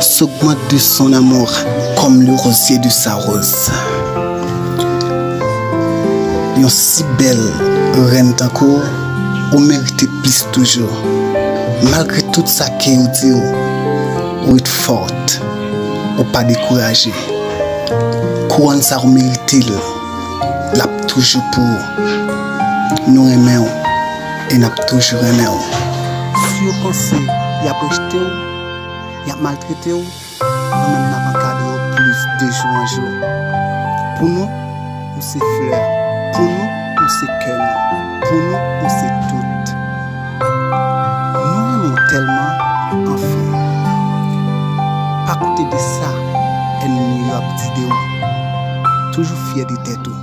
S'augmente de son amour comme le rosier de sa rose Yon si bèl rèn tankou w Ou merite plis toujou Malgre tout sa ke yo di w Ou ret forte Ou pa dekouraje Kouwòn sa ou merite l L'ap toujou pou ou Nou renmen w e n'ap toujou renmen w Si yo panse y'ap rejte w. Yap maltrete w nou menm nap ankadre w plis de jou an jou Pou nou ou se flè Pou nou ou se kè nou Pou nou ou se tout Nou renmen w tèlman anfen Pa koute de sa ènmi yo ap di de ou Toujou fyè de tèt ou.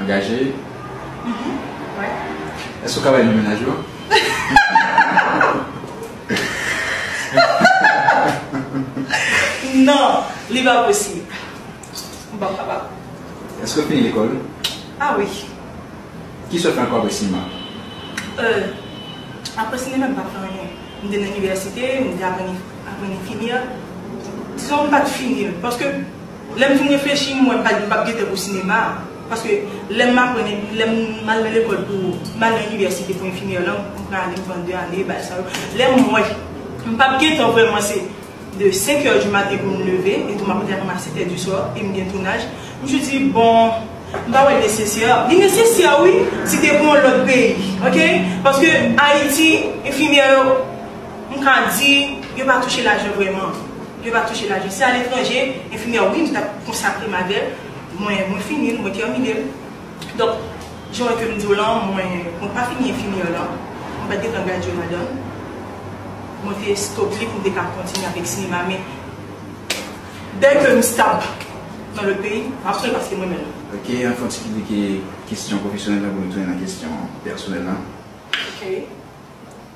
Angaje? Wi. Èske ou ka bay non mennaj ou an? Non, li pa posib. M pap kapab. Èske ou fini lekòl? A wi. Ki sa ou fè ankò apre sinema? E, apre sinema m pa fè anyen. M te nan inivèsite, m te aprann enfimyè. Dizon m pa t fini l paske. Lè m fin reflechi m wè m pap gen tan pou sinema a. Paske lè m aprann epi lè m al nan lekòl pou m al nan inivèsite pou enfimyè lan m pran ane m pran 2 ane bagay sa yo. Lè m wè m pap gen tan vrèman se de 5 heures du matin pou m leve etou m ap rete ak moun a 7 heures du soir e m gen tounaj. M toujou di bon m pa wè l nesesè. Li nesesè wi si te pou yon lòt peyi ok. Paske Ayiti enfimyè yo m ka di yo pa touche lajan vrèman. Yo pa touche lajan. Se aletranje, enfimyè wi m t ap konsakre m avè l. Mwen mwen fini l, mwen tèmine l. Donk, jan w ke m di w lan, mwen mwen pa fini enfimyè lan. Mwen pa t gen tan gradye ladan l. Mwen te stop li pou m te ka kontinye avèk sinema men dè ke m stab nan lòt peyi, m ap sonje paske m renmen l. Ok, an fon ti ki di ke kesyon pwofesyonèl la pou nou tounen nan kesyon pèsonèl lan. Ok.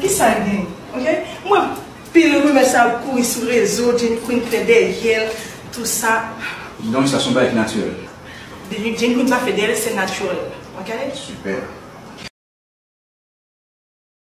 Kisa gen ok m wè pil rumè sa ap kouri sou rezo Jenny Queen t fè dèyèl tou sa. Donk sa son bagay ki natirèl. Jenny Queen pa fè dèyèl se naturel ok. Super.